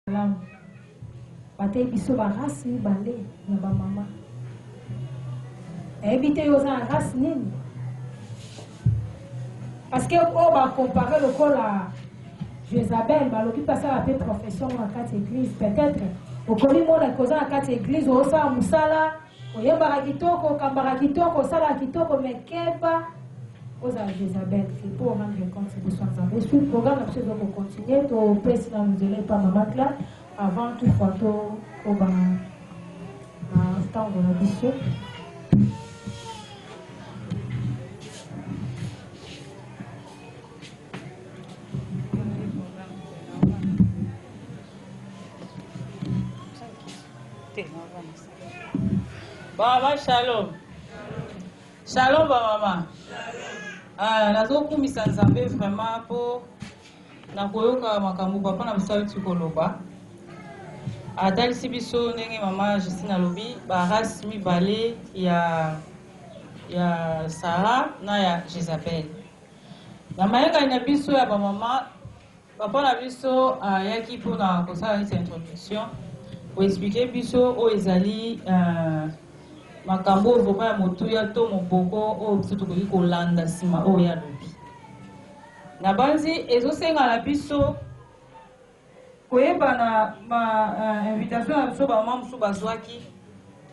Malamu. Bateyi biso ba race mibale ya ba mama. Nayebi te yo oza na race nini? Parce que oyo oh, ba compare lokola Jezabel balobi mpe asala mpe profession na kati ya eglise peut-être okomi mona kozala kati ya eglise osala mosala Oyembaka kitoko, okambaka kitoko, osalaka kitoko mais keba ozala Jezabel te mpo orendre compte liboso ya Nzambe. Suite programme na biso ezoko continuer, topesi na nzela epa mama Cla avant tout fois tokoba na ntango na biso. Baba shalom. Shalom ba mama. Ah, nazokumisa Nzambe vraiment mpo na koyoka makambo papa na biso auti koloba atalisi biso ndenge mama Justine alobi barase mibale ya ya Sara na ya Jezabel na mayangani na biso ya bamama Papa na biso ayaki mpo na kosala neti introduction, ko expliquer biso oyo ezali makambo oyo vraiment ya motuya to moboko oyo biso tokoki kolanda nsima oyo ye alobi. Nabanzi ezosenga na biso koyeba na ba invitation na biso ba membres oyo bazwaki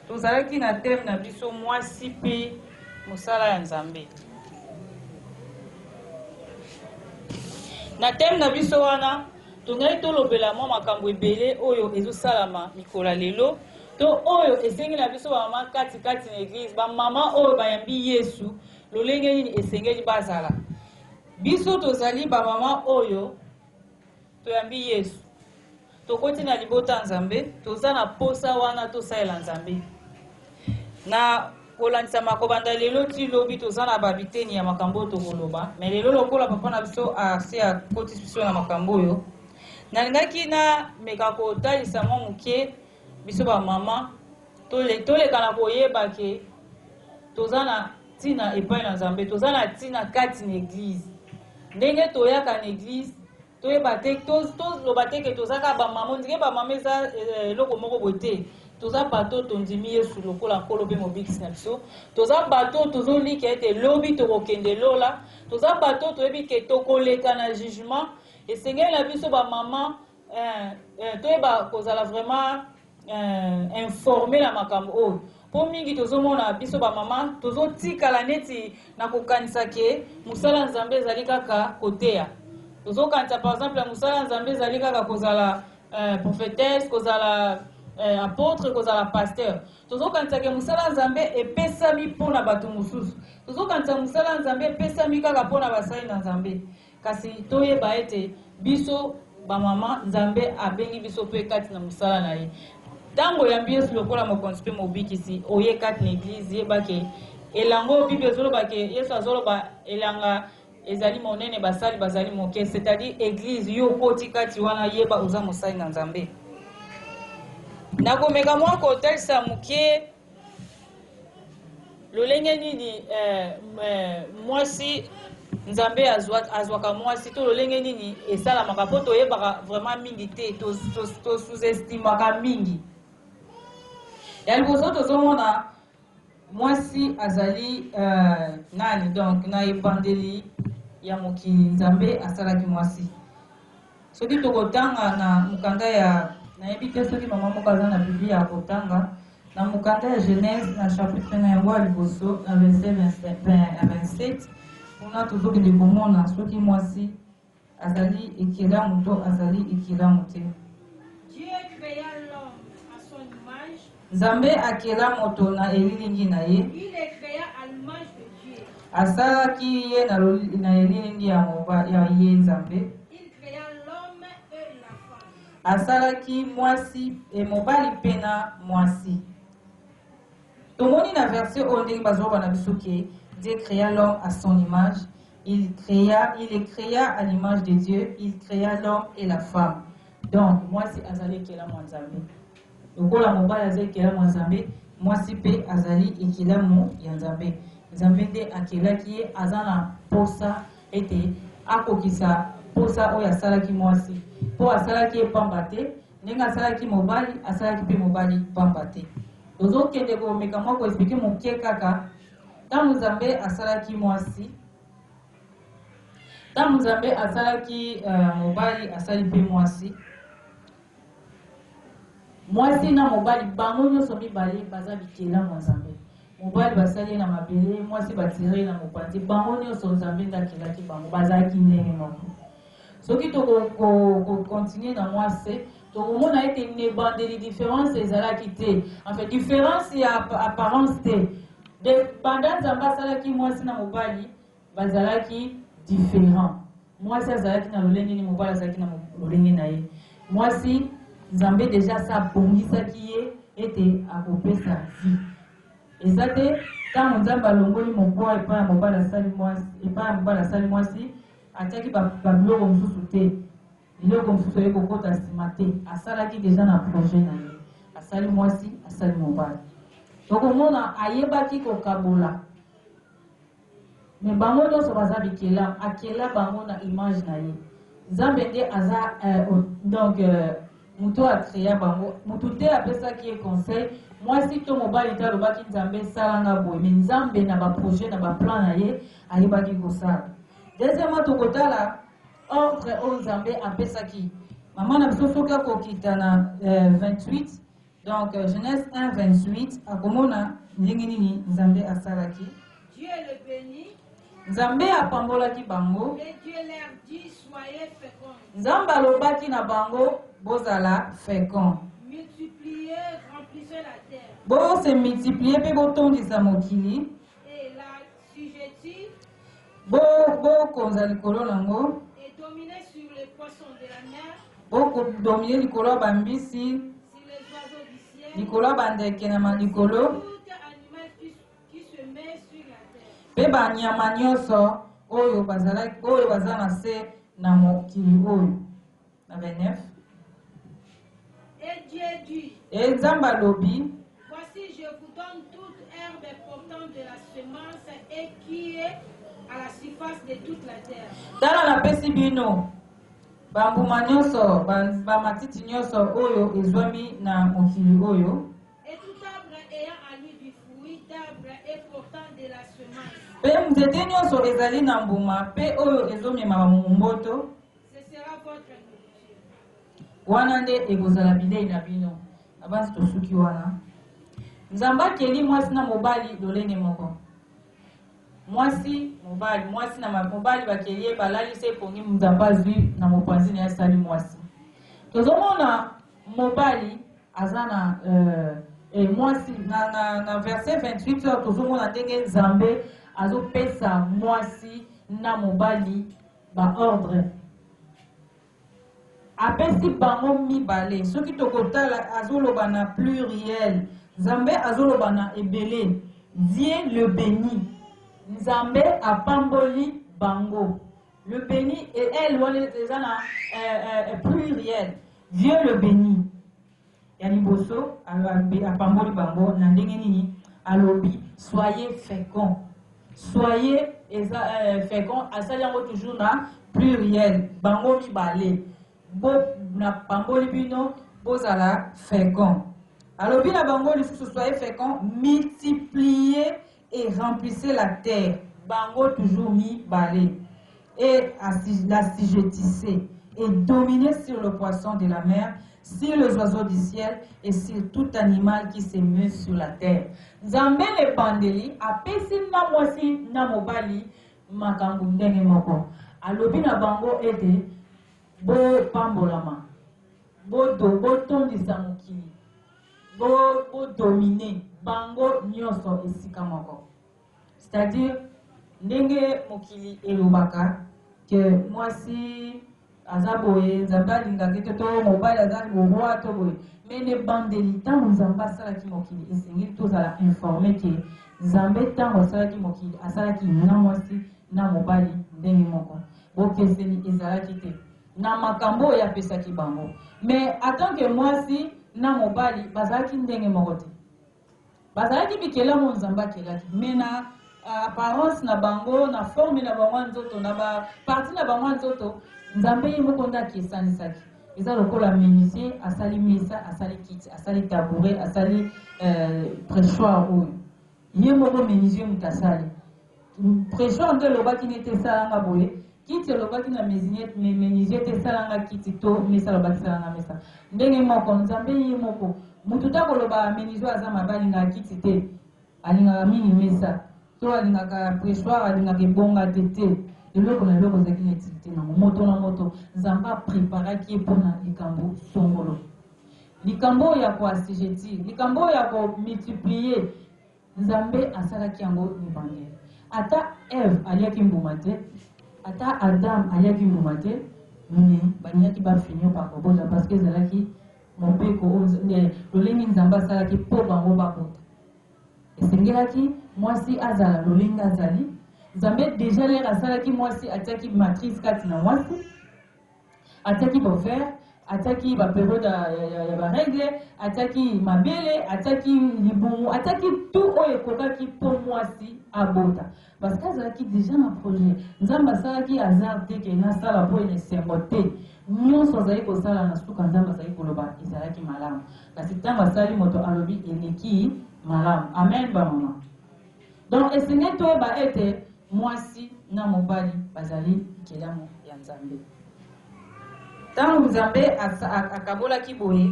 Tozalaki na thème na biso Mwasi mpe mosala ya Nzambe. Na thème na biso wana, tongaki tolobela mwa makambo ebele oyo ezosalama mikolo ya lelo to oyo esengi na biso bamama kati kati na eglise bamama oyo bayambi yesu lolenge nini esengeli bazala biso tozali bamama oyo Toyambi Yesu. Tokoti na libota ya Nzambe, toza na posa wana tosalela Nzambe. Na kolandisama kobanda lelo ti lobi toza na ba biteni ya makambo oyo tokoloba, mais lelo lokola papa na biso asi akotisi biso na makambo oyo, nalingaki na meka kotalisa mwa moke biso ba mama toleka na koyeba ke toza na Tina epai na Nzambe. Toza na tina kati na eglise. Ndenge toyaka na eglise, toyeba te, toloba te ke toza kaka ba mama, ondike ba mama eza eh, eloko moko boye te. Toza bato tondimi Yesu lokola nkolo mpe mobikisi na biso. Toza bato tozolika ete lobi tokokende lola. Toza bato toyebi ke tokoleka na jugement. Esengeli na biso ba mama Eh, eh, toyeba kozala vraiment eh, informe na makambo oyo mpo mingi tozomona biso bamama tozotikala neti na kokanisa ke mosala ya nzambe ezali kaka koteya tozokanisa par exemple mosala ya nzambe ezali kaka kozala eh, prophetesse kozala eh, apôtre kozala pasteur tozokanisa ke mosala ya nzambe epesami mpo na bato mosusu tozokanisa mosala ya nzambe epesami kaka mpo na basali na nzambe Kasi toyeba ete biso ba mama Nzambe abengi biso pe kati na mosala na ye. Tango oyambi Yesu lokola mokonzi pe mobikisi oye kati na eglise yeba ke elango bible ezoloba ke Yesu azoloba elanga ezali monene basali bazali moke c'est à dire eglise yo okoti kati wana yeba oza mosali na Nzambe. Nakomeka mwa kotalisa moke. lolenge nini eh, eh, mwasi nzambe azwaka mwasi to lolenge nini esalamaka mpo toyebaka vraiment mingi te tosuzestimaka to, to mingi ya liboso tozomona mwasi azali uh, nani donc na ebandeli ya mokili nzambe asalaki mwasi Soki tokotanga na mokanda ya, nayebi te soki mama moko aza na Biblia ya kotanga, na mokanda ya Genese na chapitre na yango ya liboso na verset 27, kuna tozokende komona soki mwasi azali ekelamu to azali ekelamu te. Nzambe akela moto na elilingi na ye. Il est crea à l'image de Dieu. Asalaki ye na na elilingi ya moba, ya ye Nzambe. Il crea l'homme et la femme. Asalaki mwasi e mobali mpe na mwasi. Tomoni na verset oyo ndenge bazoba na biso ke Dieu crea l'homme à son image. Il crea, il est crea à l'image de Dieu, il crea l'homme et la femme. Donc mwasi azali ekela mwa Nzambe. Lokola mobali aza ekelamu ya Nzambe, mwasi mpe azali ekelamu ya Nzambe. Nzambe nde akelaki ye, aza na mposa ete akokisa mposa oyo asalaki mwasi, mpo asalaki ye mpamba te, ndenge asalaki mobali, asalaki mpe mobali mpamba te. Tozokende komeka mwa koexplike moke kaka, ntango Nzambe asalaki mwasi, ntango Nzambe asalaki uh, mobali, asali mpe mwasi, Mwasi na mobali bango nionso mibale baza bikelamu ya Nzambe. Mobali basali ye na mabele, mwasi batire ye na mopanzi. Bango nionso Nzambe nde akelaki bango, bazalaki ndenge moko. Soki toko ko, ko continuer na mwasi, tokomona ete nebandeli difference ezalaki te, enfin difference ya apparence te. De banda Nzambe asalaki mwasi na mobali Bazalaki differents. Mwasi azalaki na lolenge nini, mobali azalaki na lolenge na ye. Mwasi, Nzambe deja asi abongisaki ye ete akopesa vie. Eza te ntango Nzambe alongoli mokwa epai ya mobali asali mwasi, epai ya mobali asali mwasi, atiaki babiloko mosusu te, biloko mosusu eye kokota nsima te. Asalaki deja na projet na ye, asali mwasi, asali mobali. Tokomona ayebaki kokabola. Mais bango nionso baza bikelamu akela bango na image na ye nzambe nde aza euh, donc euh, mutu a crea bango mutu te apesaki ye conseil mwasi to mobali te alobaki nzambe sala nga boye mais nzambe na ba projet na ba plan na ye ayebaki kosala deuxièmement tokotala ordre oyo nzambe apesaki mama na biso soki akokita na euh, 28 Donc Genèse 1 28 akomona ndenge nini Nzambe asalaki. Dieu le beni. Nzambe apambolaki bango. Et Dieu leur dit soyez féconds. Nzambe alobaki na bango bozala féconds. Multipliez, remplissez la terre. Bo se multiplier pe botondisa mokili. Et la sujetude. Bo, bo konza likolo na ngo. Et dominer sur les poissons de la mer. Bo ko dominer likolo ya bambisi. Sur les oiseaux du ciel. Likolo ya bandeke na malikolo. Tout animal qui, qui se met sur la terre. Mpe banyama nyonso oyo bazalaki oyo baza na se na mokili oyo. Na 29. Et Dieu dit. Et Nzambe alobi. Voici, je vous donne toute herbe portante de la semence et qui est à la surface de toute la terre. Tala napesi bino bambuma nyonso bamatiti nyonso oyo ezwami na mokili oyo mpe nzete nyonso ezali na mbuma mpe oyo ezomema bamomboto Ce sera votre nourriture. Wana nde ekozala bilei na bino. Na basi tosuki wana. Nzambe akeli mwasi na mobali lolenge moko. Mwasi, mobali, mwasi na ma- mobali bakeli ye balali se pongi Nzambe azwi na mopanzi na ye asali mwasi. Tozomona mobali aza na euh, eh, mwasi na, na, na verset 28 oyo tozomona ndenge Nzambe azopesa mwasi na mobali ba ordre apesi bango mibale soki tokotala azoloba na pluriel nzambe azoloba na ebele dieu le beni nzambe apamboli bango le beni e elle wana eza na eh, eh, eh, pluriel dieu le beni Ya liboso, Alobi apamboli bango na ndenge nini? Alobi soyez fecond. Soyez eza eh, fecond asali yango toujours na pluriel, bango mibale bo na pamboli bino bozala fecond. Alobi na bango lisusu soyez fecond, multiplier et remplissez la terre bango toujours mi bale et l'assujettissez et dominez sur le poisson de la mer sur les oiseaux du ciel et sur tout animal qui se meut sur la terre nzambe na ebandeli apesi na mwasi na mobali makambo ndenge moko alobi na bango ete bopambolama bodo botondisa mokili Bo bo dominer bango nionso esika moko. C'est à dire ndenge mokili elobaka que mwasi aza boye nzambe alingaki te to mobali aza roi to boye mais ne bandeli ntango nzambe asalaki mokili esengeli tozala informe ke nzambe ntango asalaki mokili asalaki na mwasi na mobali ndenge moko bokeseni ezalaki te na makambo oyo apesaki bango mais atant que mwasi na mobali bazalaki ndenge moko te bazalaki bikelamu oyo nzambe akelaki mais na apparence na bango na forme na bango ya nzoto na ba parti na bango ya nzoto nzambe ye moko nde akesanisaki eza lokola menuisier asali mesa asali kiti asali tabouret asali euh, pressoir oyo ye moko menuisier moto asali Tresor nde olobaki ne te sala nga boye kiti olobaki na mesiniete mais menuisier te sala nga kiti to mesa alobaki sala nga mesa ndenge moko nzambe ye moko mutu ta koloba menuisier aza mabe alingaka kiti te alingaka mingi mesa to alingaka pressoir alingaka ebonga te te eloko na eloko ezalaki na utilité nango moto na moto nzambe apreparaki ye mpo na likambo songolo likambo oyo ya koassujetir likambo oyo ya komultiplier Nzambe asalaki yango ebandeli. Ata Eve aliaki mbuma te, ata Adam aliaki mbuma te, mais balingaki ba finir par kobota parce que ezalaki mobeko oyo lolenge Nzambe asalaki mpo bango babota. Esengelaki mwasi azala lolenge azali. Nzambe deja lere asalaki mwasi atiaki matrice kati na mwasi. Atiaki ba ovaires, atiaki ba periodes ya ya ba règles, atiaki mabele, atiaki libumu, atiaki tout oyo ekokaki mpo muasi abota. Parce que azalaki dejà na projet. Nzambe asalaki hasard te que nasala mpo na esengo te. Nionso azali kosala na suka Nzambe azali koloba ezalaki malamu. Kasi tango asali moto alobi eleki malamu. Amen ba maman. Donc esengeli toyeba ete mwasi na mobali bazali bikelamu ya Nzambe. Ntango Nzambe akabolaki boye,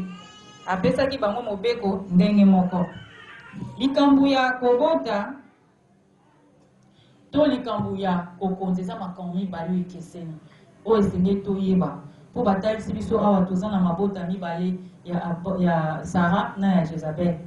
apesaki bango mobeko ndenge moko. Likambo ya kobota to likambo ya kokonza eza makambo mibale oyo ekeseni. Oyo esengeli toyeba, mpo batalisi biso awa toza na mabota mibale ya, ya Sara na ya Jezabel.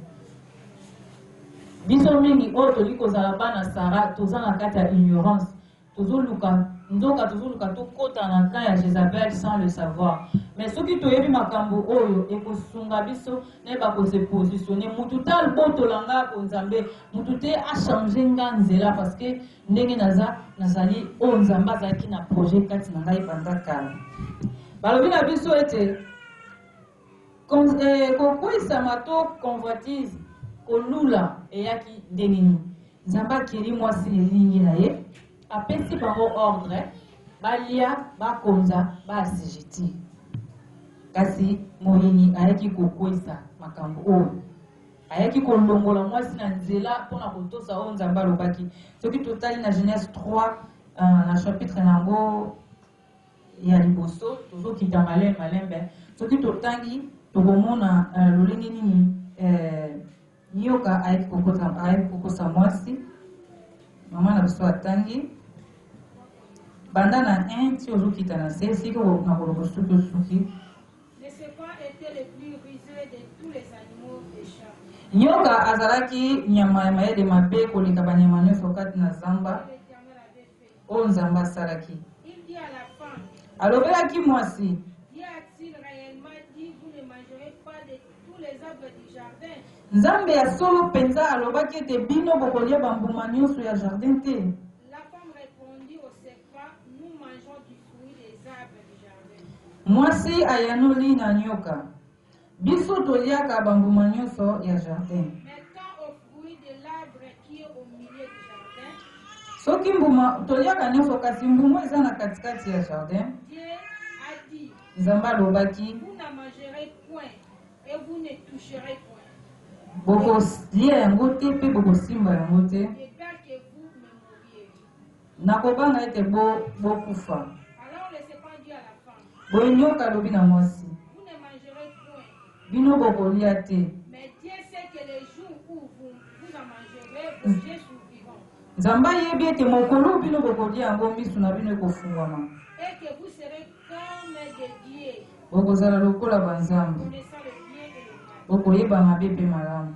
Biso mingi oyo tolingi kozala bana Sara toza na kati ya ignorance, tozoluka nzoka tozoluka tokota na camp ya Jezabel sans le savoir. Mais soki toyebi makambo oyo ekosunga biso nayeba ko se positionner, mutu te abotola nga ko Nzambe, mutu te achanger nga nzela parce que Ndenge naza, nazali oyo Nzambe azalaki na projet kati na ngai banda kala. Balobi na biso ete eh, kokweisama to convoitise, kolula eyaki ndenge nini? Nzambe akeli mwasi lilingi na ye, apesi bango ordre balia, bakonza, baasijiti. Kasi moyini ayaki kokweisa makambo oyo Ayaki kolongola mwasi na nzela mpo na kotosa oyo Nzambe alobaki. Soki totali na Genese 3, na chapitre na yango ya liboso, tozokita malembe malembe, soki totangi, tokomona lolenge nini nyoka ayaki kokosa mwasi. Mama na biso atangi banda na 1 ti ozokita na se, esika nakoloba soki osuki. Mais c'est quoi etait le plus ruseux de tous les animaux des champs? Nyoka azalaki nyama ya mayele mabe koleka banyama nyonso kati na zamba Que l'Eternel avait fait. oyo Nzambe asalaki. Il dit à la femme, Alobelaki mwasi, Dieu a-t-il réellement dit, vous ne mangerez pas de tous les arbres du jardin? Nzambe ya solo mpenza alobaki ete bino bokolia bambuma nyonso ya jardin te? Mwasi ayanoli na nyoka, Biso toliaka bambuma nyonso ya jardin. Soki mbuma toliaka nyonso, kasi mbuma eza na katikati ya jardin. Nzambe alobaki, bokolia yango te mpe bokosimba yango te. Nakobanga ete bo, bokufa. Boye nyoka alobi na mwasi, bino bokolia te. Nzambe ayebi ete mokolo bino bokolia yango, miso na bino ekofungwama, bokozala lokola banzambe, bokoyeba mabe mpe malamu.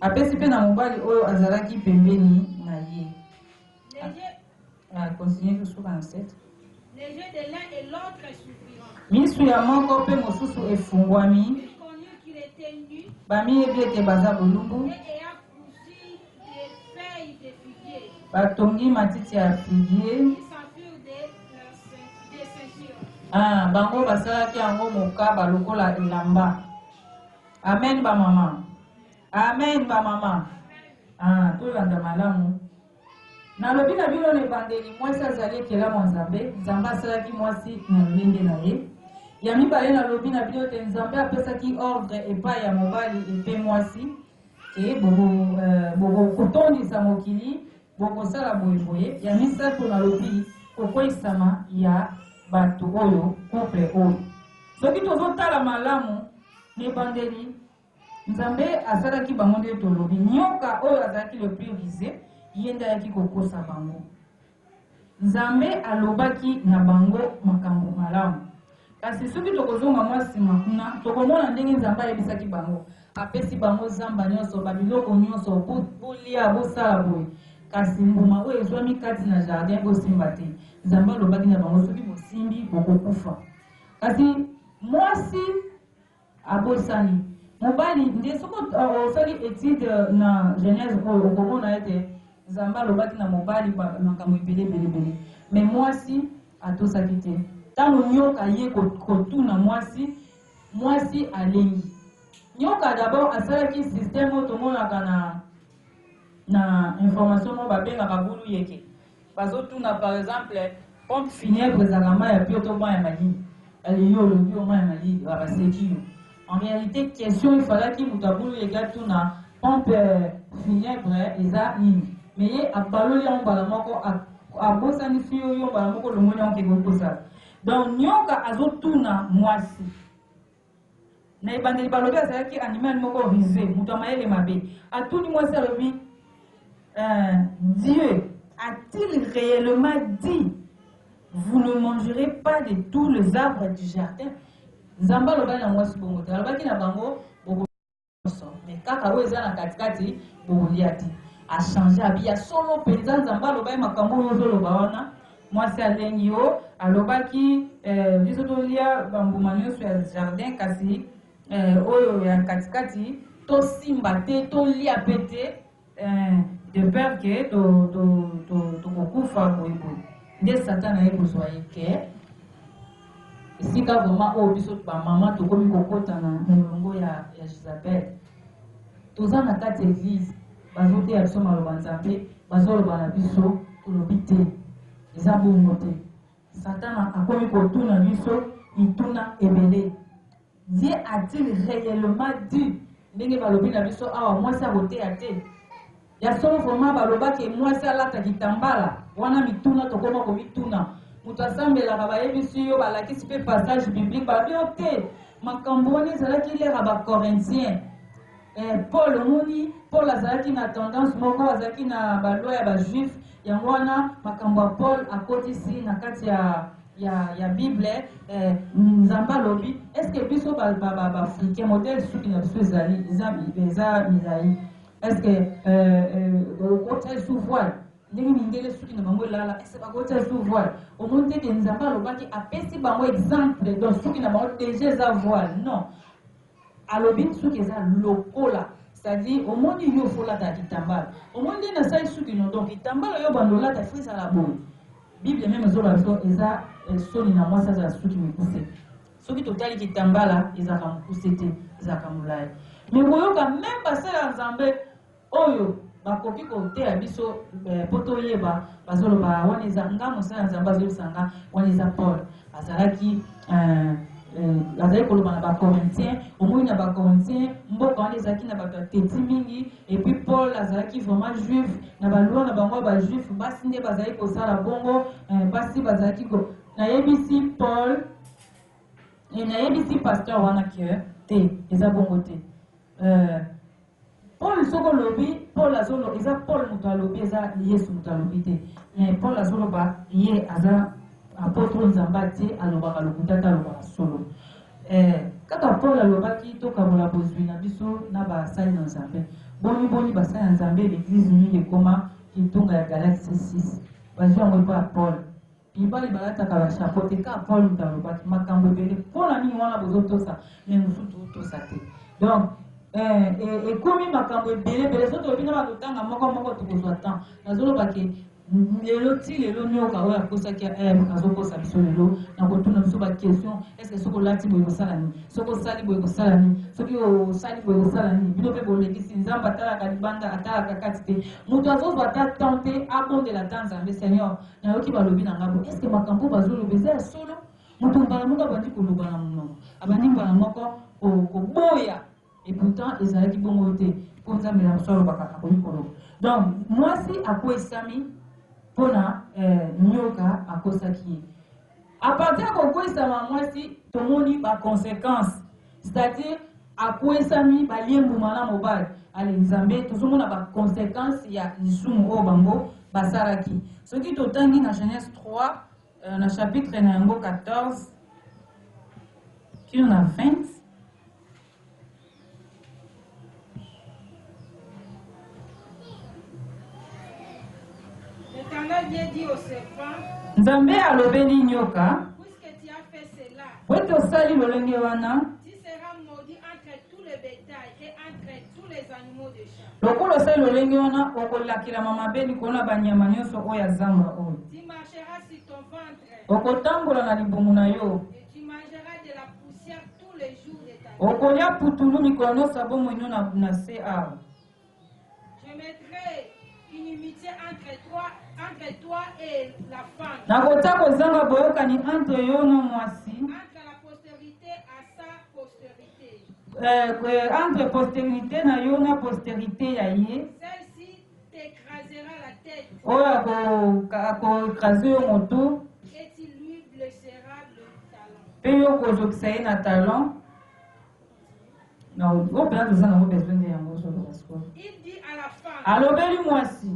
Apesi mpe na mobali oyo azalaki pembeni na ye. Ah, continue jusqu'au 27. Les yeux de l'un et l'autre s'ouvriront. Misu ya moko mpe mosusu efungwami. Ils connurent qu'il était nu. Bamiyebi ete baza bolumbu. Et ayant cousu des feuilles de figuier. Batongi matiti ya figuier. Ils s'en furent des, la- des ceintures. Ah, bango basalaki yango mokaba lokola elamba. Amen ba maman. Amen ba maman. Ah, tolanda malamu. Nalobi na bino na ebandeli, mwasi azali ekelamu ya Nzambe. Nzambe asalaki mwasi na lolenge na ye. Ya mibale, nalobi na bino te Nzambe apesaki ordre epai ya mobali epe mwasi e bokotondisa euh, mokili bokosala boye boye. Ya misato, nalobi kokweisama ya bato oyo couple oyo soki tozotala malamu Ebandeli, Nzambe asalaki bango nde tolobi. Nyoka oyo azalaki le plus vise, ye nde ayaki kokosa bango. Nzambe alobaki na bango makambo malamu. Kasi soki tokozonga mwa nsima kuna, tokomona ndenge Nzambe ayebisaki bango. Apesi bango zamba nyonso, babiloko nyonso, bolia, bosala boye. Kasi mbuma oyo ezwami kati na jardin, bosimba te. Nzambe alobaki na bango, soki bosimbi, bokokufa. Kasi Mwasi abosani mobali nde soko osali etude na genèse oyo okomona ete nzambe alobaki na mobali makambo ebele ebelebele me mwasi atosaki te ntango nyoka ye kotuna mwasi mwasi alengi nyoka dabord asalaki systeme oyo tomonaka na na information moko babengaka bulu yeke Bazo tuna par exemple pompe funèbre ezalaka mayi ya pure to mayi ya malili? Allez yo olobi yo mayi ya malili ba baseki yo en realite question il falaki mutu abulu leki atuna pompe funèbre eza nini mais ye abaloli yango mbala moko abosani si yo yo mbala moko olongoli yango kende okosala donc nioka azo tuna muasi Na ebandeli balobi azalaki animal moko ruse, moto ya mayele mabe. Atuni mwasi alobi, euh, Dieu a-t-il reellement dit vous ne mangerez pas de tous les arbres du jardin? Nzambe alobaki na mwasi bongo te, alobaki na bango mais kaka oyo eza na katikati bokolia te achange abi ya solo mpenza nzambe aloba ye makambo oyo ozoloba wana mwasi alengi yo alobaki eh, biso tolia bambuma nyonso ya jardin kasi eh, oyo ya katikati tosimba te tolia mpe te Eh, de peur que to to to tokokufa boye boye nde satana ye kozwa ye ke esika vraiment oyo biso bamama tokomi kokota na molongo ya ya gisabele toza na kati ya eglise bazoteya biso maloba nzambe bazoloba na biso tolobi te eza bongo te satana akomi kotuna biso mituna ebele Ye a-t-il reellement dit ndenge balobi na biso awa mwasi akoteya te? Ya solo vraiment baloba ke mwasi alata kitambala? Wana mituna tokoma komituna. Moto asambelaka bayebisi yo balakisi pe passage biblique balobi yo te makambo wana ezalaki lere ya ba Corinthiens. Eh Paul omoni Paul azalaki na tendance moko azalaki na ba loi ya ba juif yango wana makambo ya Paul akotisi na kati ya ya ya bible eh, nzambe alobi est ce que biso ba ba ba, ba africain modèle suki na biso ezali eza eza milai est ce que euh, euh, okotia sous voile ndenge mindele suki na bango elala est ce que bakotia sous voile omoni te ke nzambe alobaki apesi bango exemple donc suki na bango deja eza voile non Alobi suki eza lokola c'est à dire omoni yo faut olata kitambala omoni ndenge nasali suki no donc kitambala yo bando olata faut ezala boye bible meme ezoloba biso eza eh, soni na mwasi azala suki mikuse soki totali kitambala ezalaka mokuse te ezalaka molai me koyoka meme basala nzambe Oyo bakoki koteya biso eh, po toyeba bazoloba wana eza nga mosala ya nzambe azoyebisa nga wana eza paul azalaki eh, eh, azali koloba na bacorintien omoni na bacorintien mboka wana ezalaki na bato ya teti mingi epuis paul azalaki vraiment juif na balwa na bango ya bajuif basi nde bazali kosala bongo basi bazalaki ko nayebisi paul nayebisi pasteur wana ke te eza bongo te Paul soki olobi Paul azolo eza Paul moto alobi eza Yesu moto alobi te mais Paul azoloba ye aza apotre Nzambe atie alobaka lokuta te alobaka solo eh, kaka Paul alobaki tokabola bozwi na biso na basali na Nzambe boni boni basali na Nzambe l'église mingi ekoma kitunga ya galaxie 6 bazwi yango epa ya Paul Mibali balataka ba chapeau te kaka Paul mutu alobaki makambu ebele pona nini wana bozo tosa mais mususu to tosa te donc eh, eh, ekomi makambu ebele ebele soki tolobi na ba lotanga moko moko tokozwa temps nazoloba ke lelo ti lelo nioka oyo akosaki ya eh, eve azokosa biso lelo na kotuna biso baquestion estce soki olati boye kosala nini soki osali boye kosala nini soki osali boye kosala nini bino mpe bolekisi nzambe atalaka libanda atalaka kati te moto azozwa ata temps te abondela ata nzambe seigneur Nayoki balobi na ngai boye, Eske makambo oyo bazoloba eza ya solo? Moto mbala moko abandi koloba na monoko, abandi mbala moko ko, koboya. Et pourtant, ezalaki bongo te, mpo Nzambe na biso alobaka akoki koloba. Donc, mwasi akweisami mpo na eh, nyoka akosaki ye. A partir ya kokweisama ya mwasi, tomoni ba consequences. C'est à dire akwesami balie mbuma na mobali ale nzambe tozomona ba consequences ya lisumu oyo bango basalaki soki totangi na genèse 3 euh, na chapitre na yango 14 kino na 20 Nzambe alobeli nyoka, bwete osali lolenge wana lokola osali lolenge wana okolakelama mabe likolo na banyama nyonso oyo ya zamba oyo okotambola na libumu na yo Okolia putulu mikolo nyonso ya bomoi no na, na se awa. Nakotia kozanga boyokani entre yo na mwasi euh, euh, entre posterite na yo na posterite ya ye oyo akoekrase yo motu mpe yo kozokisa ye na talon na oyo mpena toza nango besoin nde yango ozoloba sikoyo alobeli mwasi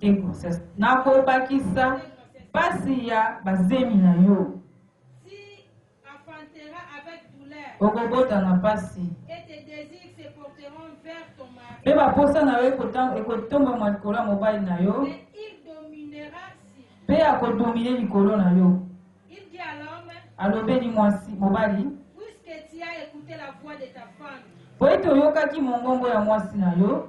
te grossesse nakobakisa mpasi ya bazemi na yo Okobota na mpasi. Mpe baposa na yo ekotombama likolo ya mobali na yo. Mpe akodomine likolo na yo. Alobeli mwasi mobali. Mpo ete oyokaki mongongo ya mwasi na yo.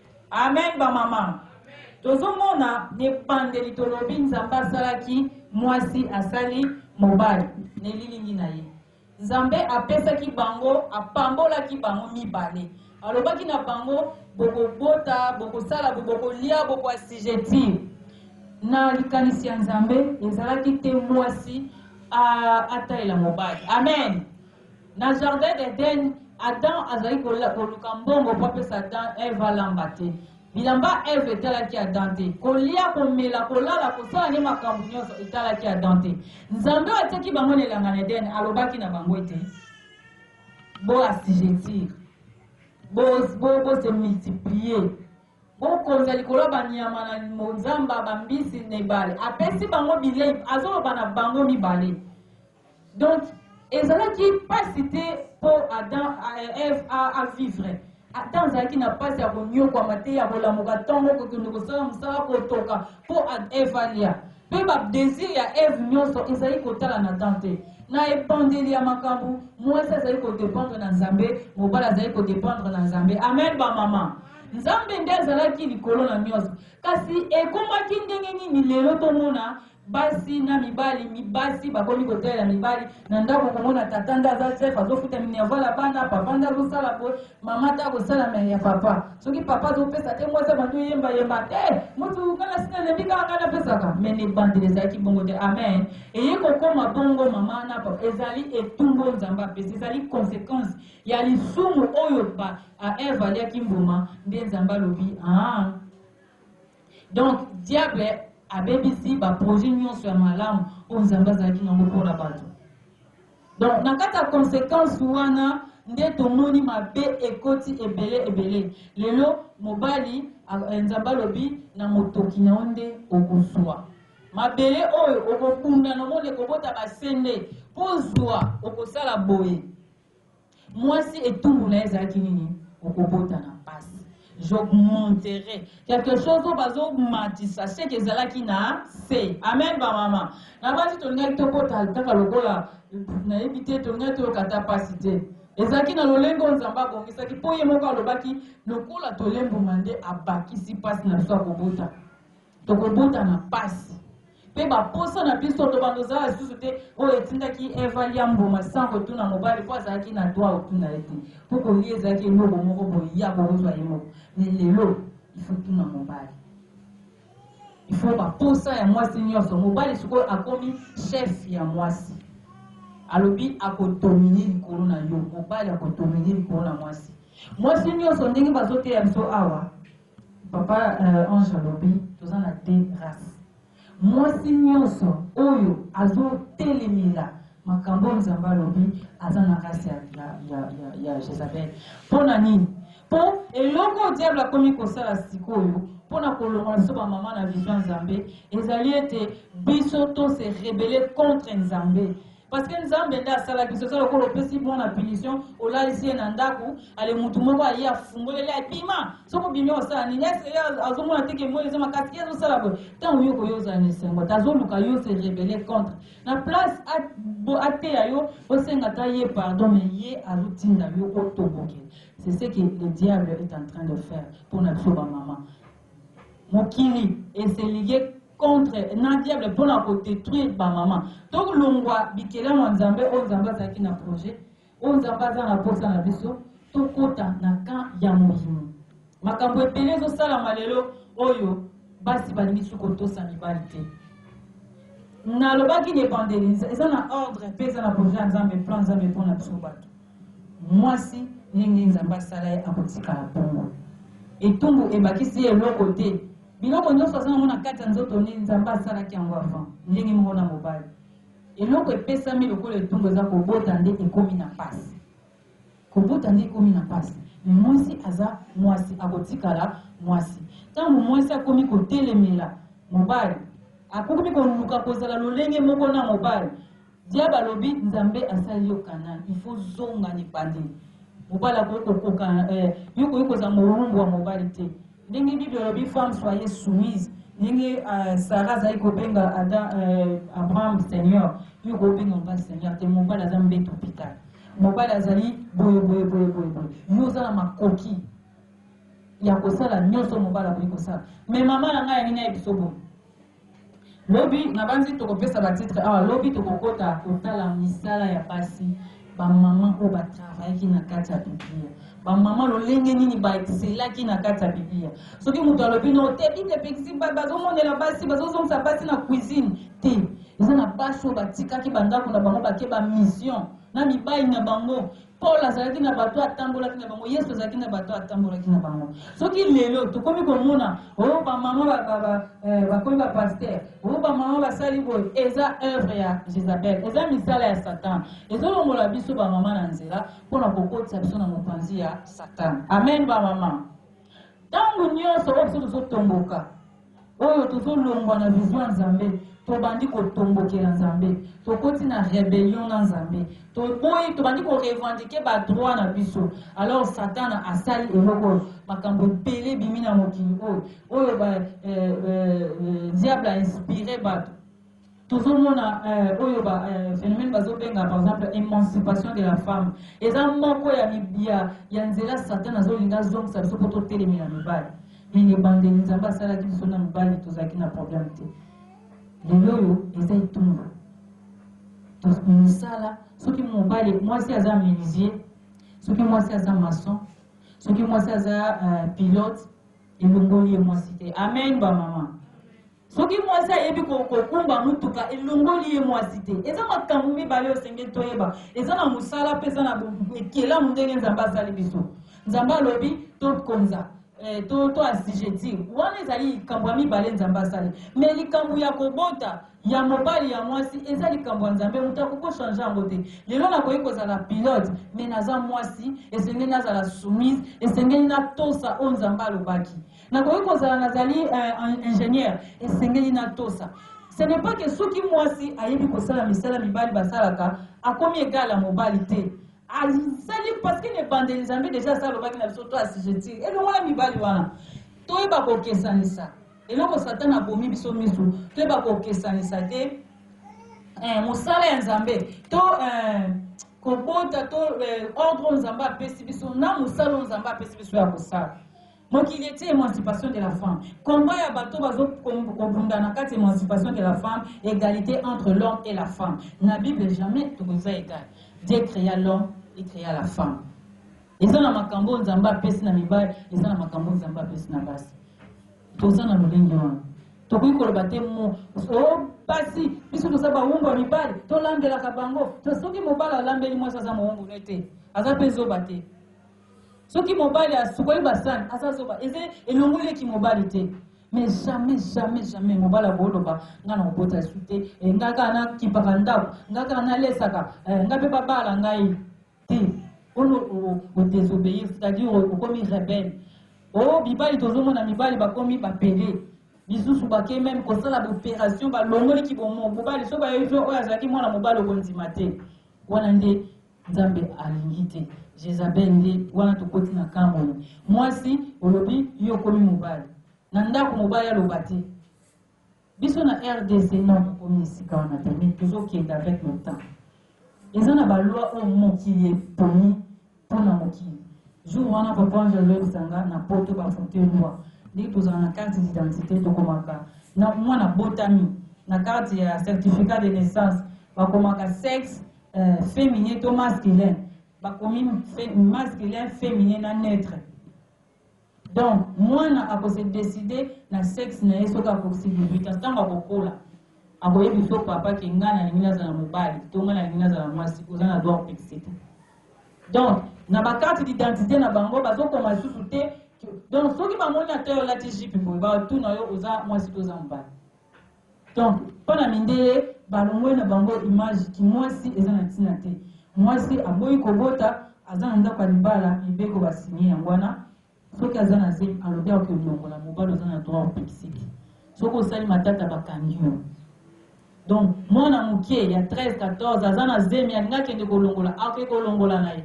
Amen ba mama tozomona nebandeli tolobi nzambe asalaki mwasi asali mobali na elilingi na ye nzambe apesaki bango apambolaki bango mibale alobaki na bango bokobota bokosala bokolia bokoasigetir na likanisi ya nzambe ezalaki te mwasi atalela mobali amen Na jardin d'Eden, Adam azali koluka mbongo mpo apesa Adam, Eve alamba te. Bilamba Eve etalaki Adam te. Kolia, komela, kolala, kosala nde makambo nyonso etalaki Adam te. Nzambe oyo atiaki bango na elanga na Eden alobaki na bango ete bo assujettir, bo bo se multiplier, bokonza likolo ya banyama na monzamba, bambisi na ebale. Apesi bango bilei, azoloba na bango mibale. Donc, ezalaki pasi te po Adam et Eve a, a vivre. ata azalaki na mpasi ya konyokwama te ya kolamuka ntongo kokende kosala mosala kotoka mpo eve alia mpe badesir ya eve nyonso ezali kotala na dan te na ebandeli ya makambo mwasi azali kodependre na nzambe mobali azali kodependre na nzambe amen bamama nzambe nde azalaki likolo na nyonso kasi ekomaki ndenge nini lelo tomona Basi na mibali, mi basi bakomi kotalela mibali na ndako, komona tata nde aza chef, azofuta minerval ya bana, papa nde azosala boye, mama te akosala me ya papa. Soki papa azopesa te, mwasi abandi oyemba yemba te, mutu nga nasi nalembi kaka nga napesaka. Me na ebandeli ezalaki bongo te. Amen. Eye kokoma bongo mama na papa, ezali etumbu oyo Nzambe apesi, ezali consequence ya lisumu oyo ba a Eve aliaki mbuma, nde Nzambe alobi ah Donc diable abebisi ba projets nionso ya malamu oyo Nzambe azalaki na yango mpo na bato. Donc na kati ya consequence wana nde tomoni mabe ekoti ebele ebele. Lelo mobali eh, Nzambe alobi na motoki na yo nde okozwa mabele oyo okobunda na moni ekobota basende mpo ozwa okosala boye Mwasi etumbu naye ezalaki nini? Okobota na pasi. J'augmenterai quelque chose oyo bazo matisa seke ezalaki na se. Amen ba mama. Na basi tolingaki tobota kaka lokola nayebi te tolingaki toyoka ata pasi te. Ezalaki na lolenge oyo Nzambe abongisaki mpo ye moko alobaki lokola tolembuma nde abakisi pasi na biso ya kobota. Tokobota na pasi pe ba posa na biso tobanda ozala lisusu te oyo etindaki Eva alia mbuma sans kotuna mobali po azalaki na droit ya kotuna ye te po kolia ezalaki eloko moko boye ya kozwa ye moko mais lelo il faut tuna mobali il faut ba posa ya mwasi nyonso mobali sikoyo akomi chef ya mwasi alobi akodomine likolo na yo mobali akodomine likolo na mwasi mwasi nyonso ndenge bazoteya biso awa Papa ange alobi toza na de race mwasi nionso oyo azo telemela makambo oyo nzambe alobi aza na race ya, ya, ya, ya, ya jezabel mpo na nini mpo eloko oyo diable akomi kosala sikoyo mpo na kolongola biso bamama na vision nzambe ezali ete biso to se rebele contre nzambe Parce que Nzambe nde asala biso eza lokola opesi mwana punition olalisi ye na ndako ale mutu moko aye afungoleli abima soki obimi osala nini ese ye azomona te ke moi eza makasi ye azosala boye ntango yo koyo ozala na esengo te azoluka yo se rebele contre na place ateya yo osenga ata ye pardon me ye azotinda yo otoboke c'est ce que le diable est en train de faire mpo na biso bamama Mokili e se liguer contre na diable pona ko detruire ba maman. To longwa bikelamu ya Nzambe oyo Nzambe azalaki na projet, oyo Nzambe aza na posa na biso, to kota na camp ya moyindo. Makambo ebele ezo salama lelo oyo basi balingi lisusu kotosa mibali te. nalobaki na ebandeli eza na ordre mpe eza na projet ya nzambe plan nzambe mpo na biso bato Mwasi ndenge Nzambe asala ye akotikala bongo. Etumbu ebakisi ye eloko te. Biloko nionso aza nango na kati ya nzoto ne, Nzambe asalaki yango avant, ndenge moko na mobali. Eloko epesami lokola etumbu eza kobota nde ekomi na pasi. Kobota nde ekomi na pasi. Mais mwasi aza mwasi, akotikala mwasi. Tango mwasi akomi kotelemela mobali, akomi koluka kozala lolenge moko na mobali, Diab alobi nzambe asali yo canal il faut zonga nipande mobali akoki kokoka eh, yo okoki kozala mowumbu ya mobali te ndenge bible alobi femme soyez soumise ndenge uh, sara azali kobenga ada uh, abraham seigneur yo okoki kobenga mobali seigneur te mobali aza mbeto pita mobali azali boye boye boye boye boye yo oza na makoki ya kosala nyonso mobali akoki kosala me mama na ngai yangi nayebiso boye Lobi nabanzi tokopesa ba titre awa lobi tokokota kotala misala ya basi ba maman oyo ba travaillaki na kati ya Biblia ba maman lolenge nini ba excelaki na kati ya Biblia soki moto alobi no te Bible epekisi bazomonela basi bazozongisa basi na cuisine te eza na basi oyo batikaki bandako na bango bake ba mission na mibali na bango Paul azalaki na bato atambolaki na bango, Yesu azalaki na bato atambolaki na bango. Soki lelo tokomi komona o oh, bamama eh, bakomi bapaster, o oh, bamama basali boye, eza œuvre ya Jezabel, eza misala ya Satan. Ezolongola biso bamama na nzela mpo na kokotisa biso na mopanzi ya Satan. Amen bamama. Ntango nyonso oyo biso tozotomboka, oyo tozolongwa na vision ya Nzambe, tobandi kotombokela Nzambe, tokoti na rebellion na Nzambe, toboyi, tobandi korevandike badroit na biso. Alors Satana asali eloko oyo, makambo ebele ebimi na mokili oyo, oyo ba, eh, eh, eh, diable a inspire bato tozomona euh, oyo ba euh, phénomène bazobenga par exemple émancipation de la femme eza moko ya ya, ya nzela satan azolinga azongisa biso mpo totelemi na mibali nini ebandeli nzambe asalaki biso na mibali tozalaki na problème te lelo oyo eza etumba mosala soki mobali mwasi aza menuisier soki mwasi aza maçon soki mwasi aza euh, pilote elongoli ye mwasi te amen bamama Soki mwasi ayebi kokumba motuka, elongoli ye mwasi te. Eza makambo mibale oyo esengeli toyeba. Eza na mosala mpe eza na ekelamu ndenge Nzambe asali biso. Nzambe alobi tokonza eh, to, to assujettir wana ezali likambo ya mibale nzambe asali me likambo ya kobota ya mobali ya mwasi eza likambo ya nzambe moto akoki kochange yango te lelo nakoki kozala pilote me naza mwasi esengeli nazala soumise esengeli natosa oyo nzambe alobaki nakoki kozala nazali uh, ingénieur esengeli natosa ce n'est pas que soki mwasi ayebi kosala misala mibali basalaka akomi egala mobali te asali parce que na ebandeli nzambe deja asala lobaki na biso to asijeti elongola mibali wana toyeba kokesanisa eloko satana abomi biso miso toyeba kokesanisa te eh, mosala ya nzambe to eh, kobota to eh, ordre oyo nzambe apesi biso na mosala oyo nzambe apesi biso ya kosala Mokili etie emancipation de la femme combat ya bato bazo kobunda na kati emancipation de la femme egalite entre l'homme et la femme na bible jamais tokoza egal Dieu crea l'homme et crea la femme eza na makambo nzambe apesi na mibali eza na makambo nzambe apesi na basi toza na lolenge wana tokoki koloba te mo o basi biso toza bawumbu ya mibali tolandelaka bango to soki mobali alambeli mwasi aza mowumbu ne te aza mpe zoba te soki mobali asukoli basani aza zoba eza elongoli ye kimobali te mais jamais jamais jamais mobali akoloba ngai na kobota esu te eh, ngai kaka nakipaka ndako ngai kaka nalesaka eh, ngai mpe babala ngai te ono odesobeye c'est-à-dire okomi rebelle o oh, mibali tozomona mibali bakomi bapele misusu bake meme kosala baopération balongoli kibomo mobali so bayebi oyo azalaki mwana mobali okondima te wana nde Nzambe alingi te Jezabel nde wana tokoti na camp oyo mwasi olobi yo okomi mobali na ndako mobali aloba te biso na rdc non tokomi esika wana te mais tozokende avec le temps eza na balwa oyo mokili eponi mpo na mokili jour wana papa ange aloyebisa nga na poto bafote loi ndenge tozala na carte d'identité tokomaka na mwana botami na carte ya certificat de naissance bakomaka sexe Euh, feminin to masculin bakomi masculin feminin na neutre donc mwana akose décide na sexe na ye soki akokisi 18 ans ntango akokola akoyebi fo papa ke ngai nalingi nazala mobali to ngai nalingi nazala mwasi oza na droit opekisi te donc na bakarte d'identité na bango bazokoma lisusu te donc soki bamoni ata yo olati jipe boye batuna yo oza mwasi to oza mobali Donc pona mindele balongoli na bango image ki muasi eza na tina te muasi aboyi kobota aza na ndaku ya libala mibeko ba signe yango wana soki aza na zemi alobi akoki olongola mobali oza na droit opekisiki soki osali matata bakangi yo donc mwana mukie ya 13 14 aza na zemi alinga kende kolongola akoki kolongola na ye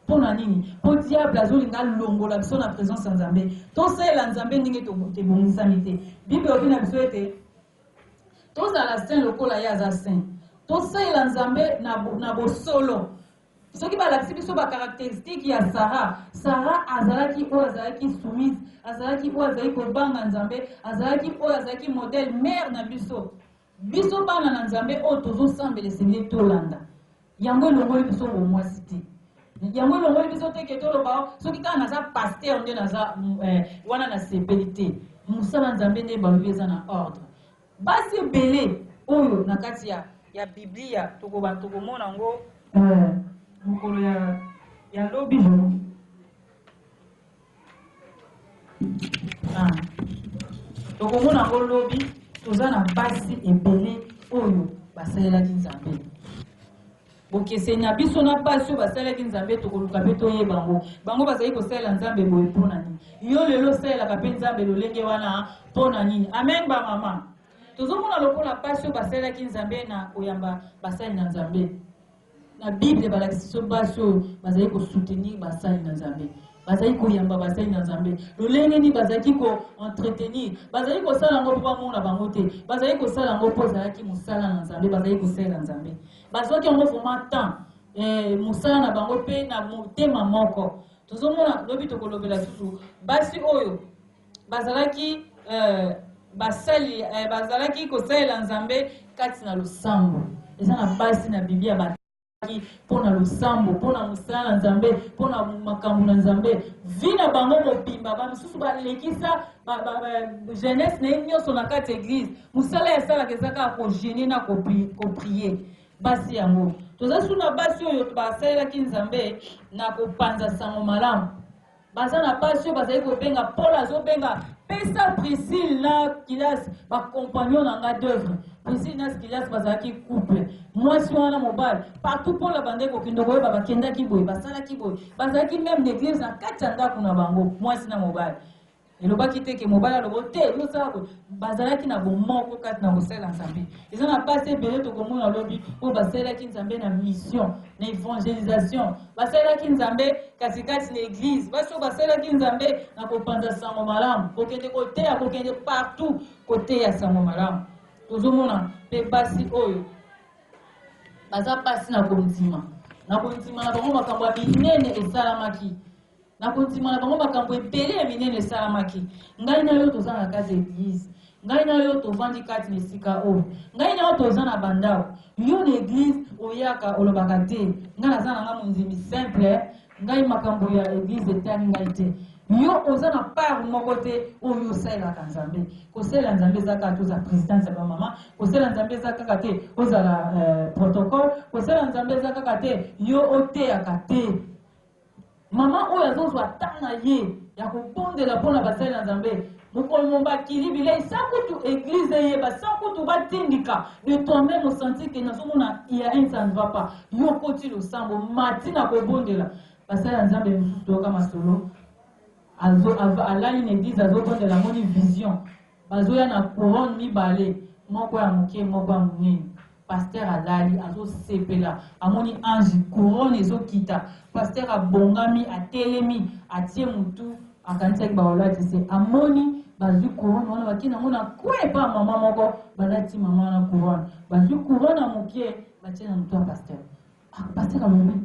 Pona nini? Po diable azolinga alongola biso na presence ya Nzambe. Tosalela Nzambe ndenge tebongisami te. Bible elobi na biso ete tozala saint lokola ye aza saint. Tosalela Nzambe na bosolo. Soki balakisi biso ba caracteristiques ya Sara, Sara azalaki oyo azalaki soumise, azalaki oyo azalaki kobanga Nzambe, azalaki oyo azalaki modèle, mère na biso. Biso bana na Nzambe oyo tozo sambela esengeli tolanda yango elongoli biso bomwasi te yango elongoli biso te ke toloba soki kaka naza pasteur nde naza eh, wana nasepeli te mosala Nzambe nde balobi eza na ordre basi ebele oyo na kati ya ya biblia tokoba tokomona yango eh, mokolo ya ya lobi Ah. tokomona yango lobi toza na basi ebele oyo basalelaki nzambe bokeseni ya biso na basi oyo basalelaki nzambe tokoluka mpe toyeba yango bango bazali kosalela nzambe boye mpo na nini yo lelo osalelaka mpe nzambe lolenge wana mpo na nini amen bamama tozomona lokola basi oyo basalelaki nzambe na koyamba basali na nzambe Na Bible balakisi biso basi oyo bazali ko soutenir basali na Nzambe, bazali koyamba basali na Nzambe, lolenge nini bazalaki ko entretenir, bazali kosala yango mpo bamona bango te, bazali kosala yango mpo ezalaki mosala na Nzambe, bazali kosalela Nzambe, bazwaki yango vraiment temps eh, mosala na bango mpe na motema moko. Tozomona lobi tokolobela susu basi oyo bazalaki eh, basali eh, bazalaki kosalela nzambe kati na losambo eza na basi na biblia batalaki mpo na losambo mpo na mosala na nzambe mpo na makambo na nzambe vi na bango mobimba bamosusu balekisa jeunesse na ye nyonso na kati ya eglize mosala ya salaka eza kaka kogene na koprie basi yango toza su na basi oyo basalelaki nzambe na kopanza sango malamu baza na basi oyo bazali kobenga paul azobenga pesa priscille na kilas bacompagnon na nga d'oeuvre priscille na kilas bazalaki couple mwasi wana mobali partout paul abandaki kokende koyeba bakendaki boye basalaki boye bazalaki meme na eglise na kati ya ndako na bango mwasi na mobali elobaki te ke mobali alobo te yosala boye bazalaki na bomoko kati na kosala nzambe Eza na pasi ebele tokomona lobi oyo basalelaki Nzambe na mission, na evangelisation. Basalelaki Nzambe kasi kati na eglise. Basi oyo basalelaki Nzambe na kopanza sango malamu, kokende koteya, kokende partout koteya sango malamu. Tozomona mpe basi oyo baza pasi na kondima, na kondima na bango makambo ya minene esalamaki. Na kondima na bango, makambo ebele ya minene esalamaki. Ngai na yo toza na kati ya eglise. Ngai na yo tovandi kati na esika oyo. Ngai na yo toza na bandao. Yo na eglise oyaka olobaka te. Ngai naza na nga mondimi simple. Ngai makambo ya eglise etani ngai te. Yo oza na part moko te oyo osalelaka Nzambe. Kosalela Nzambe eza kaka te ozala presidente ya bamama. Kosalela Nzambe eza kaka te ozala uh, protocole. Kosalela Nzambe eza kaka te yo oteyaka te. Maman oyo azo zwa temps na ye ya ko bondela pona basali na Nzambe mokolo mo ba kili bileyi sans kutu eglise eyeba sans kutu ba tindika de toi meme au sentir que nazo mona il ya un ça ne va pas yo okoti losambo mati na ko bondela basali na Nzambe mosusu toyoka masolo azo alali na eglise azo bondela amoni vision Bazoya na couronne mibale moko ya muke moko ya munene pasteur alali azo sepela amoni ange couronne ezo kita pasteur abongami atelemi atie mutu akanisaki baolati se amoni bazwi couronne wana bake nango na kue epa mama moko balati mama wana couronne bazwi couronne ya muke batie na mutu ya pasteur ah, pasteur alobi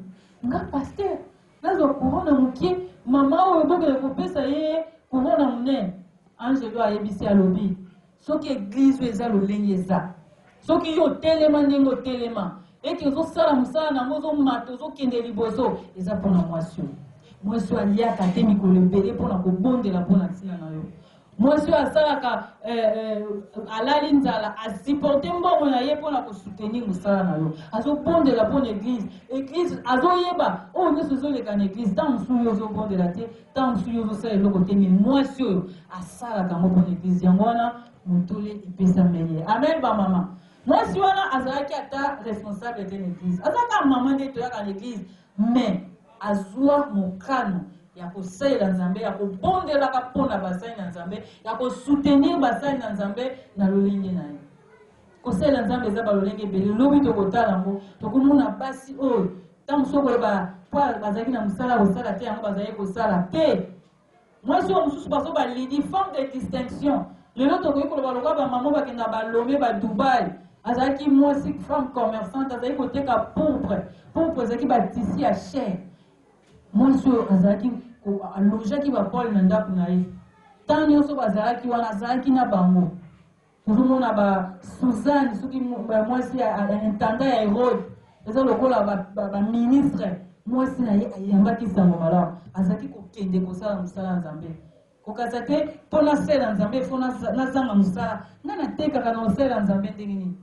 nga pasteur Nazwa kurona mokie, mama oyo bokende kopesa ye kurona monene. Angelo ayebisi, alobi, soki eglise oyo eza lolenge eza, soki yo otelema ndenge otelema, ete ozosala mosala nango, ozomata, ozokende liboso, eza mpo na mwasi oyo. Mwasi oyo aliaka te mikolo ebele mpo na kobondela mpo na ntina na yo. Mwasi oyo asalaka eh, eh, alali nzala asupporte mbongo na ye mpo na kosoutenir mosala na yo azobondela mpo na eglise eglise azoyeba oyo nyonso ezoleka na eglise ntango mosusu yo ozobondela te ntango mosusu yo ozosala eloko te me mwasi oyo asalaka yango mpo na eglise yango wana motole epesami ye amen bamama mwasi wana azalaki ata responsable te na eglise azalaka mama nde toyaka na eglise Mais azua mokano ya kosalela Nzambe, ya kobondelaka mpo na basali na Nzambe, ya ko soutenir basali na Nzambe na lolenge na ye. Kosalela Nzambe eza balolenge ebele, lobi tokotala yango, tokomona basi oyo ntango mosusu okoyeba mpo bazalaki na mosala ya kosala te yango bazalaki kosala te. Mwasi oyo mususu bazo ba Lydie femme de distinction lelo tokoki koloba lokola ba maman bakenda ba Lome ba Dubaï azalaki mwasi femme commerçante azalaki koteka pourpre pourpre ezalaki ba tisi ya cher mwasi oyo azalaki alojaki ba pole na ndako na ye ntango nyonso bazalaki wana azalaki na bango Tozo mona ba Suzanne soki mwasi ya intendant ya Herode eza lokola ba, ba, ba ministre mwasi na ye ayambaki sango malamu azalaki kokende kosala mosala ya Nzambe kokasa te mpo nasala Nzambe fo nazanga mosala ngai natekaka na osala Nzambe ndenge nini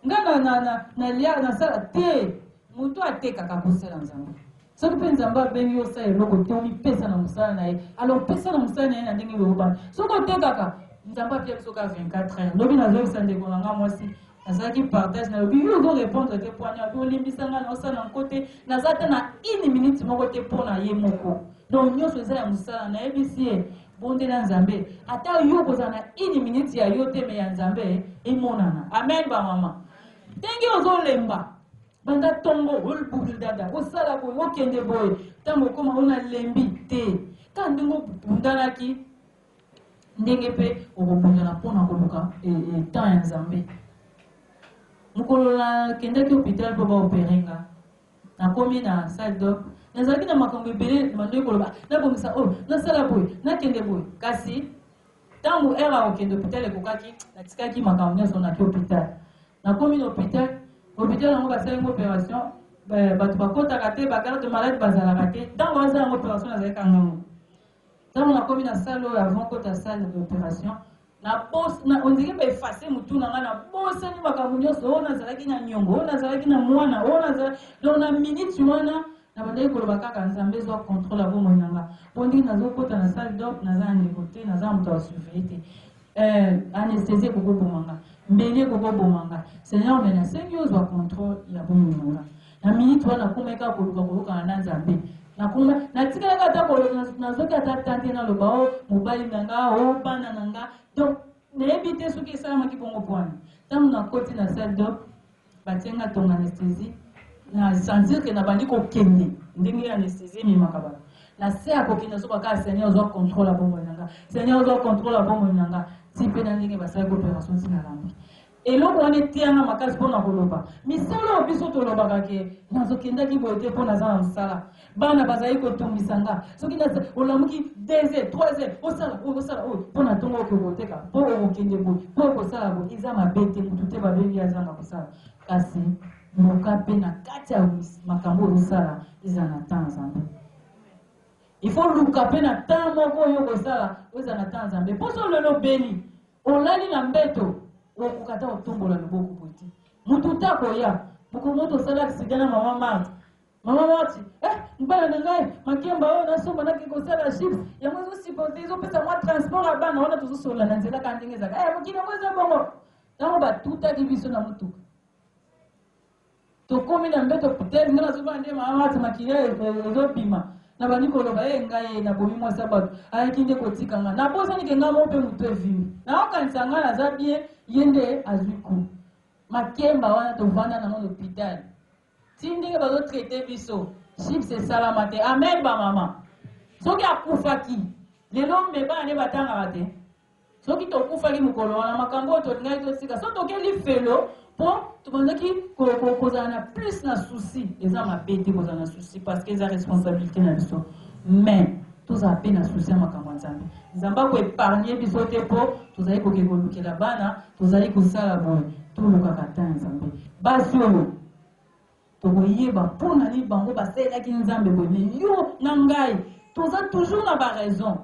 Nga na na na na lia na sala te moto atekaka kosala nzambe soki mpe nzambe abengi yo osala eloko te omipesa na mosala na ye alors pesa na mosala na ye na ndenge beyobana soki otekaka nzambe apia biso ka 24 heure lobi nazoyebisa ndeko na nga mwasi nazalaki partage nalobi yo ozo répondre te mpo wana olimbisa ngai na osala na nko te naza ata na une minute moko te mpo na ye moko donc nyonso eza ya mosala nayebisi ye Bondela nzambe ata yo okozala na une minute ya yo te me ya nzambe emonana amen ba mama ndenge ozolemba banda tongo olbukil dada osala boye okende boye ntango okoma ona lembi te kaka ndenge obundanaki ndenge mpe okobundana mpo na koluka e, e, temps ya nzambe mokolo nakendaki hôpital mpo baopere nga Nakomi na salle d'or, nazalaki na makambo ebele nabandoki koloba nabongisa oyo, nasala boye, nakende boye. Kasi tango heure ya kokende hopital ekokaki, natikaki makambo nionso naki hopital. Nakomi na hopital, hopital yango basali nga operation, batu bakotaka te, ba garde malade bazalaka te, tango basala nga operation nazalaki kaka nga moko. Tango na komi na salle oyo avant kota salle de operation na bos na on dirait ba effacer mutu na nga na bosani makambo nyonso oyo nazalaki na nyongo oyo nazalaki na mwana oyo nazalaki donc na minute wana na bandaki koloba kaka nzambe ezwa contrôle ya bomoi na nga mpo ndenge nazokota na salle d'op naza na ndeko te naza na moto ya surveille te Eh, anesthésie ekoki koboma nga mbeli ekoki koboma nga seigneur me nasengi ozwa contrôle ya bomoi na nga na minute wana nakomaki kaka koluka koyokana na nzambe nakoma natikalaki ata nazoki ata tante naloba o oh, mobali na nga o oh, bana na nga donc nayebi te soki esalamaki bongo pwana ntango nakoti na salle dop Batie nga tonga anesthesie na sentir que nabandi kokende ndenge anesthesie ememaka bato na se ya kokende nazoba kaka seigneur zwa controle ya bomoi na nga seigneur zwa controle ya bomoi na nga ti mpe na ndenge basalaki operation ti nalambi eloko wana eteyanga makasi mpo na koloba misala oyo biso tolobaka ke nazokendaki boye te mpo naza na mosala bana bazali kotungisa nga soki na olamuki deux heures trois heures osala oyo osala oyo mpo na ntongo okoki koteka mpo okokende boye mpo okosala boye eza mabe te motu te babengi azanga kosala kasi luka mpe na kati ya makambo oyo osala ezala na ntango nzambe ifo luka mpe na ntango moko oyo okosala oyo ezala na ntango nzambe mpo so lelo obeli olali na mbeto okoka ta kotombola loboko boye te motu te akoya mokolo moto osala aksida na mama marte Mama Marti, eh, mbala na ngai makemba oyo nasomba nake kosala chips yango ezosipote ezopesa mwa transport ya bana wana tozosolola na nzela kaka ndenge ezalaka eh, mokili yango eza bongo ntango batutaki biso na motuka tokomi na mbeto putele nga nazobana nde mama Marti makila e, e, ezobima nabandi koloba ye eh, ngai nabomi mwasi ya bato ayaki nde kotika nga nabosani ke ngai moko mpe motu evimi naokanisa ngai naza bien ye nde azwi ku makemba wana tovanda nango na hopitale Ti ndenge bazo traite biso chips esalama te amen ba mama soki akufaki lelo mme bana nde batangaka te soki tokufaki mokolo wana makambo oyo tolingaki totika so tokeli felo mpo tobandaki kozala na plus na souci eza mabe te kozala na souci parce que eza responsabilité na biso mais tozala mpe na souci ya makambo ya nzambe nzambe akoepargne biso te mpo tozali koke kolukela bana Tozali kosala boye, tolukaka ata ya Nzambe. Basi oyo, tokoyeba mpo na nini bango basalelaki Nzambe boye. Me yo na ngai, toza toujours na ba raison.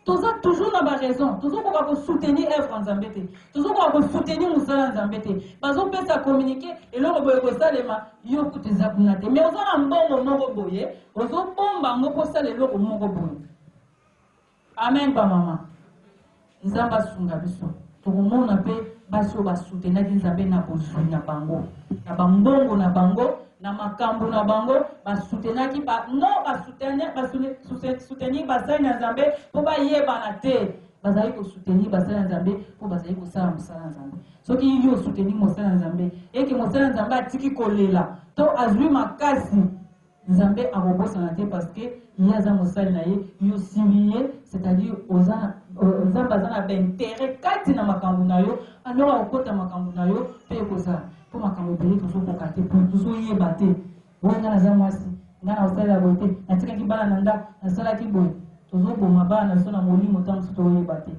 Toza toujours na ba raison. Tozokoka kosoutenir œuvre ya Nzambe te. Tozokoka kosoutenir mosala ya Nzambe te. Bazopesa communiqué, eloko boye kosalema, yo kutu eza kuna te. Me oza na mbongo moko boye, ozobomba yango mpo osala eloko moko boye. Amen ba maman nzambe asunga biso tokomona pe basi oyo basutenaki nzambe na bozwi na bango na bambongo na bango na makambo na bango basutenaki ba, no basutenir basali na nzambe mpo bayebana te bazali kosutenir basali na nzambe mpo bazali kosala mosala na nzambe soki yo osutenir mosala na nzambe eke mosala na nzambe atiki kolela to azwi makasi Nzambe akobosana te parce que ye aza mosali na ye yo osili ye c'est à dire oza na Nzambe aza na ba interet kati na makambo na yo alors akokota makambo na yo pe ekozala po makambo ebele tozokoka te po tozoyeba te oyo nga naza mwasi nga na osalela boye te natikaki bana na ndako nasalaki boye tozoboma bana na biso na molimo ntango mosusu toyeba te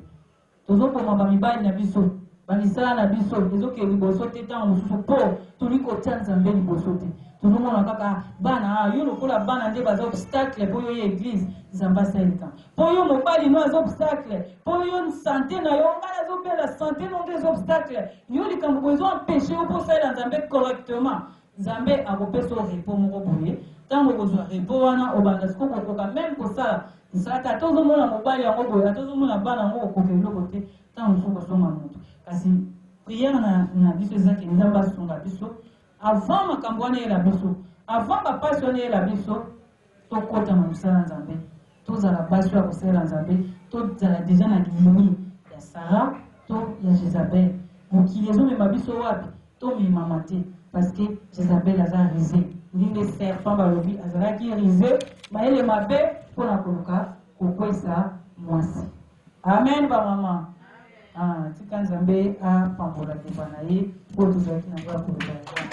Tozo boma ba mibali na biso, ba misala na biso ezo kende liboso te tango mosusu po toli kotia Nzambe liboso te. Tozo mona kaka bana ah yo lokola bana nde baza obstacle po yo ye eglise Nzambe asala likambo. Po yo mobali no aza obstacle, po yo sante na yo nga nazo bela sante no nde eza obstacle. Yo likambo boye ezo empecher yo po osalela Nzambe correctement. Nzambe akopesa yo repos moko boye, tango okozwa repos wana, obanda sikoyo kokoka meme kosala mosala te, ata ozomona mobali yango boye, ata ozomona bana yango, okokoka eloko te, tango mosusu okozonga moto. Kasi prière na, na biso eza ke Nzambe asunga biso avant makambo wana eyela biso, avant bapasi wana eyela biso, Tokota na mosala ya Nzambe, tozala basi oyo ya kosalela Nzambe, tozala dejà na liyimi ya Sarah to ya Jezabel. Mokili ezomema biso wapi? Tomemama te parce que Jezabel aza ruse. Ndenge serpent balobi azalaki ruse, mayele mabe mpo na koluka kokwesa mwasi. Amen ba maman. Ah, tika Nzambe a pambola liwa na ye oyo tozalaki na ngoya koloba yango wana.